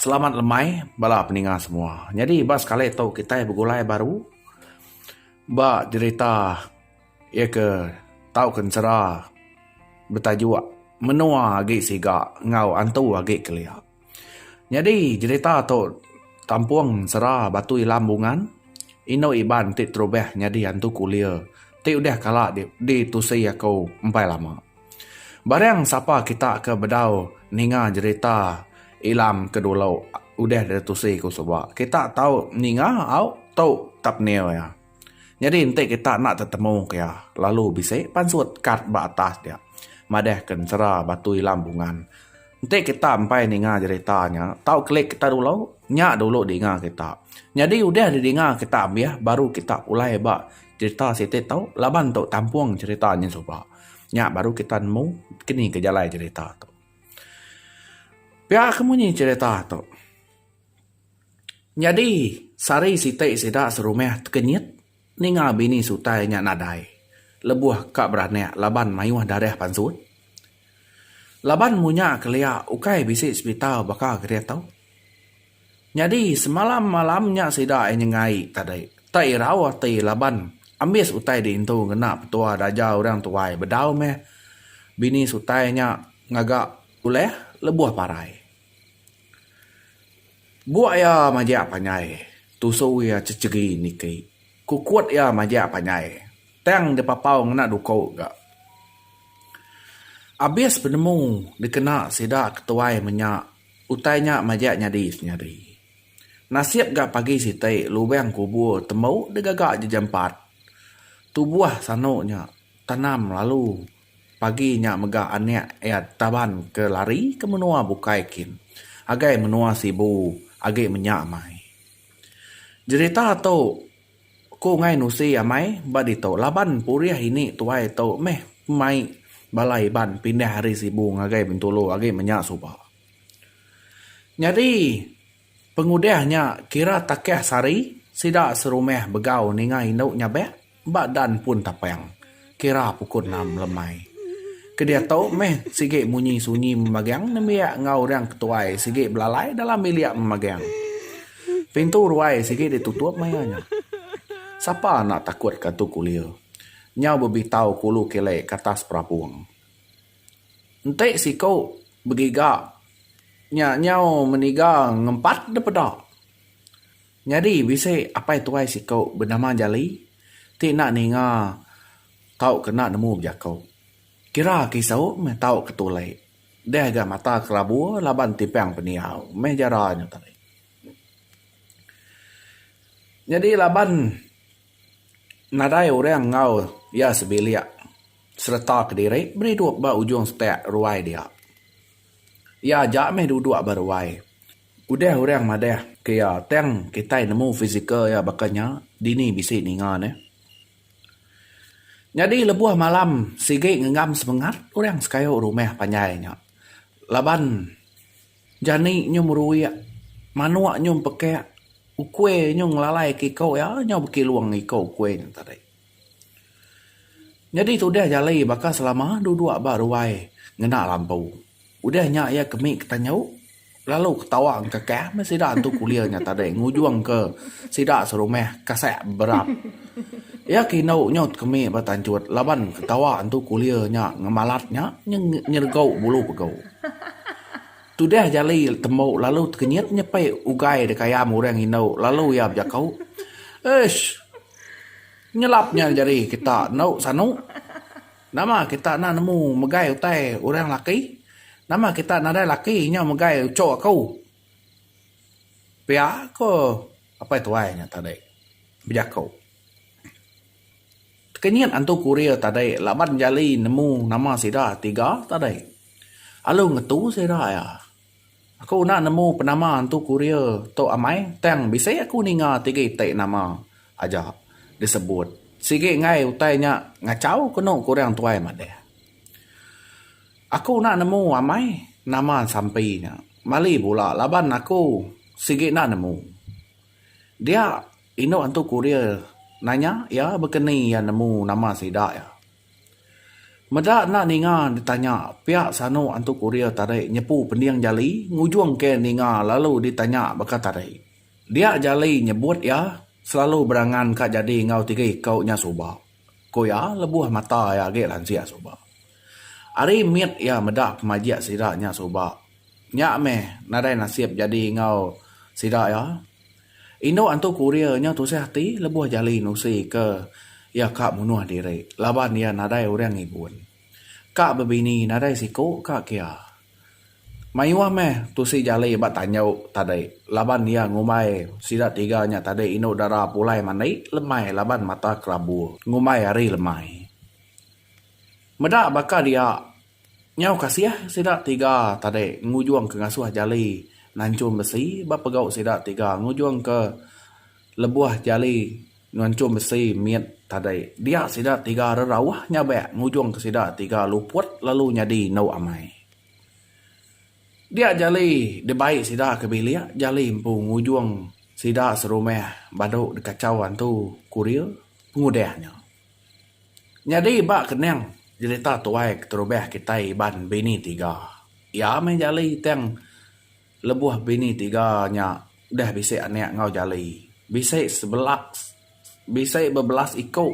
Selamat lemai bala peninga semua. Nyadi ba sekali tu kitai begulai baru ba jerita iya ke tauka ensera betajuk Menua Agi Siga enggau Antu Agi Kelia. Nyadi jerita tu tampung ensera Batu Ilam Bungan, Inu Iban ti terubah nyadi Antu Kulir ti udah kala ditusi aku empai lama. Barang sapa kita ke bedau ninga jerita Ilam ke dulu udah deh tusi ku suba kita tau ninga au tu thumbnail iya. Nyadi enti kita enda tetemu ke iya lalu bisi pansut kad ba atas dia madah ke ensera Batu Ilam Bungan. Enti kita empai ninga jerita nya tau klik kita dulu nya dulu dinga kita. Nyadi udah deh dinga kita ambih baru kita pulai ba jerita siti tu laban tu tampung jerita nya suba. Nya baru kita nemu kini ke jalai cerita tu. Pia ke munyi cerita tu. Nyadi sehari siti sida serumah tekenyit ninga bini sutai nya nadai lebuh ka beranak laban mayuh darah pansut. Laban munya kelia ukai bisi sepital baka keditu. Nyadi semalam malam nya sida ai nyenggai tadi. Te irau ati laban ambis utai diintu ngena petua daja orang tuai bedau meh bini sutai nya ngaga ulih lebuh parai. Buk iya majak panjai, tusu iya ceceri niki. Kukut iya majak panjai, tang dipapau ngena duku ga. Abis penemu dikena sida ketuai menya. Utai nya majak nyadi senyadi. Nasib ga pagi siti lubang kubur tembu digaga jejempat. Tubuh sanu nya tanam lalu pagi nya mega anak iya taban ke lari ke menua bukai kin agai menua Sibu agi menya mai. Jerita tu. Ku Ngai Nusi amai ba ditu laban purih ini tuai tu meh mai bala Iban pindah ari Sibu ngagai Bintulu agi menya suba. Nyadi pengudah nya kira takah sehari sida serumah begau ninga indu nyabak ba Dan Pun Tapang. Kira pukul enam lemai. Ke diatu meh sigi munyi sunyi memagang nembiak enggau orang ketuai sigi belalai dalam bilik memagang. Pintu ruai sigi ditutup maya nya. Sapa enda takut ka tu kulir. Nyau bebitau ke ulu kelek ke atas perapung. Enti siku begiga nya nyau meniga ngempat depeda. Nyadi bisi apai tuai siku benama Jali ti enda ninga tau kena nemu bejaku. Kira ke isu meh tau ke tulai. Deh ga mata kelabu laban timpang pendiau meh jara nya tadi. Nyadi laban nadai orang enggau iya sebilik sereta kediri meri duduk ba ujung sepak ruai dia. Iya aja meh duduk ba ruai. Udah orang madah ke iya tang kitai nemu fizikal iya baka nya dini bisi ninga ne. Nyadi lebuh malam sigi ngenggam semengat orang sekayu rumah panjai nya laban jani nyu meruik manuk nyu pekak ukui nyu ngelalai ke iko iya nyu beki long iko ukui nya tadi. Nyadi ti udah jali baka selama dua dua ba ruai ngena lampu. Udah nya iya ke mih ke tanjau lalu ke tawa engka kah meh sida antu kulir nya tadi ngujung ke sida serumah kasek berap. Iya ke indu nyut ke mih ba tanjut laban ke tawa antu kulir nya ngemalat nya nyergau bulu pegu. Tudah jali tembu lalu tekenyit nyepi ugai deka ayam orang indu lalu iya bejaku, Uish! Nyelap nya jari kita endo sanu. Nama kita enda nemu megai utai orang laki. Nama kita nadai laki nyau megai uchu aku. Pia ko apai tuai nya tadi bejaku. Tekenyit antu kurir tadi laban jali nemu nama sida tiga tadi. Alu ngetu sida iya. Aku enda nemu penama entu kurir tu amai tang bisi aku ninga tigi ti nama aja disebut sigi enggai utai nya ngachau ke enu ke orang tuai madah. Aku enda nemu amai nama sampi nya mali bula laban aku sigi enda nemu dia inu entu kurir nanya iya bekeni iya nemu nama sida iya. Meda enda ninga ditanya, piak sanu antu kurir tadi nyepu pending jali ngujung ke ninga lalu ditanya baka tadi. Dia jali nyebut iya selalu berangan ka jadi enggau tiga iku nya suba, ku iya lebuh mata iya agi lansik suba. Ari mit iya meda pemajik sida nya suba, nya meh nadai nasib jadi enggau sida iya. Indu antu Korea nya tusah ati lebuh Jali nusi ke iya ka munuh diri laban iya nadai orang igun. Ka bebini nadai siku ka kia. Mayuh meh tusi Jali ba tanju tadi laban iya ngumbai sida tiga nya tadi indu dara pulai mandi lemai laban mata kelabu ngumbai hari lemai. Meda baka dia Nyau kasih sida tiga tadi ngujungka ngasuh jali nanchum besi ba pegau sida tiga ngujungka lebuh jali nanchum besi mit tadi. Dia sida tiga rerauh nyabek ngujungka sida tiga luput lalu nyadi endu amai. Dia jali dibai sida ke bilik jali empu ngujung sida serumah badu dikachau antu kurir pengudah nya. Nyadi ba kening jerita tuai keterubah kitai Iban Bini Tiga. Iya meh Jali tang lebuh bini tiga nya udah bisi anak enggau Jali bisi sebela bisi bebelas iku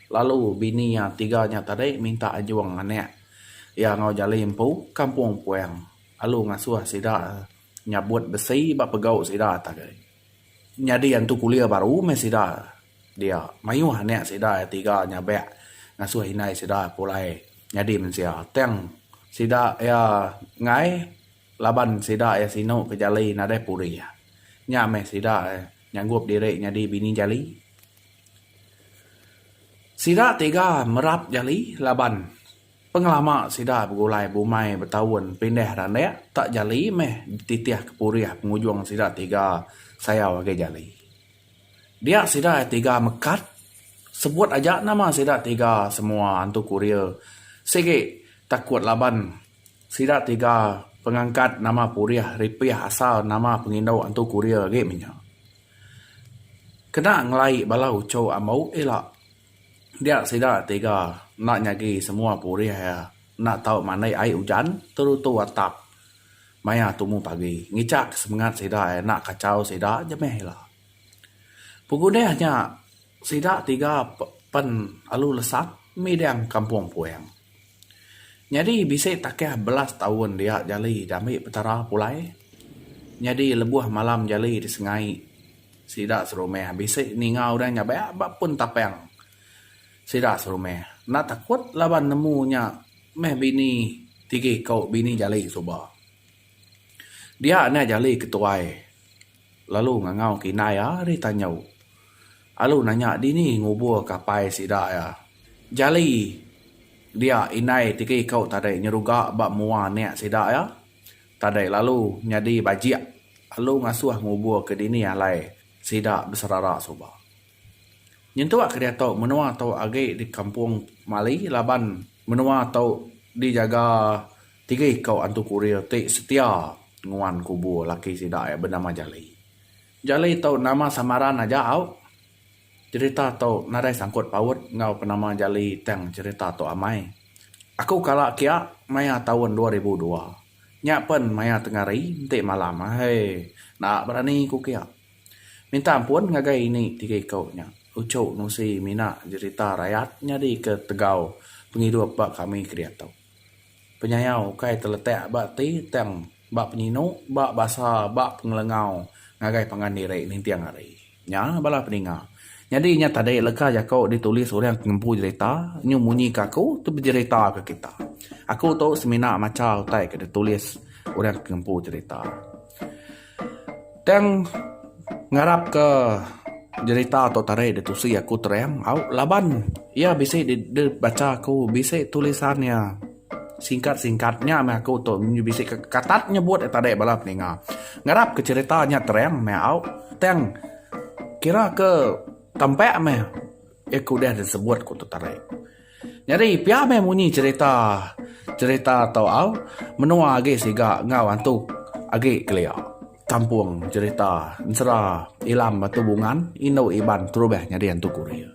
lalu bini iya tiga nya tadi minta anjung anak iya enggau Jali empu ke Kampung Puang lalu ngasuh sida nyabut besi ba pegau sida ati agi. Nyadi antu kulir baru meh sida dia. Mayuh anak sida iya tiga nyabak ngasuh indai sida pulai nyadi mensia. Tang sida iya enggai laban sida iya sinu ke jali nadai purih. Nya meh sida nyanggup diri nyadi bini jali. Sida tiga merap jali laban. Pengelama sida begulai bumai betaun pindah randak tak jali meh dititih ke purih pengujung sida tiga sayau agi jali. Dia sida tiga mekat sebut aja nama sida tiga semua antu kurir sigi takut laban sida tiga pengangkat nama purih ripih asal nama pengindu antu kurir agi mih nya. Kena ngelai bala uchu ambu ila. Dia sida tiga enda nyagi semua purih iya enda tau mandai ai ujan terutu atap maya tumu pagi ngichak semengat sida iya enda kachau sida je meh ila. Pengudih nya sida tiga pen alu lesap midang kampung puing. Nyadi bisi takah belas taun dia jali diambi Petara pulai. Nyadi lebuh malam jali disengai sida serumah bisi ninga udah nyabak ba pun tapang sida serumah. Enda takut laban nemu nya meh bini tigi ko bini jali suba. Dia nya jali ketuai. Lalu ngangau ke indai iya ri tanjau. Alu nanya dini ngubur ke apai sida iya. Jali dia indai ti ke iko tadi nyeruga ba mua anak sida iya. Tadi lalu nyadi bajik. Alu ngasuh ngubur ke dini alai sida beserara suba. Nyentuk ke diatu menua tu agi di kampung Mali laban menua tu dijaga tiga iko antu kurir ti setia nguan kubur laki sida iya benama Jali. Jali tu nama samaran aja au. Cerita tu nadai sangkut paut enggau penama Jali tang cerita tu amai. Aku kala kiya maya taun dua ribu dua. Nya pen maya tengari enti malam. Aii naak berani ku kiya. Minta ampun ngagai ini tiga iku nya uchu nusi mina jerita rayat nyadi ke tegau pengidup ba kami kediatu. Penyayau ukai teletak ba ti tang ba penyinu ba basa ba pengelengau ngagai pangan diri ninting hari nya bala peninga. Nyadi nya tadi leka jaku ditulis orang ke ngempu jerita nyu munyi ke aku tu bejerita ke kita. Aku tu semina macha utai ke ditulis orang ke ngempu jerita. Tang ngarap ke jerita tu tadi ditusi aku terang au laban iya bisi dibacha aku bisi tulisan iya. Singkat singkat nya meh aku tu bisi ke katat nyebut nya tadi bala peninga. Ngarap ke cerita nya terang meh au tang kira ke tampak meh aku udah disebut ku tu tadi. Nyadi pia meh munyi cerita cerita tu au menua agi siga enggau antu agi kelia kampung cerita ensera ilam batu bungan indu iban terubah nyadi antu kurir.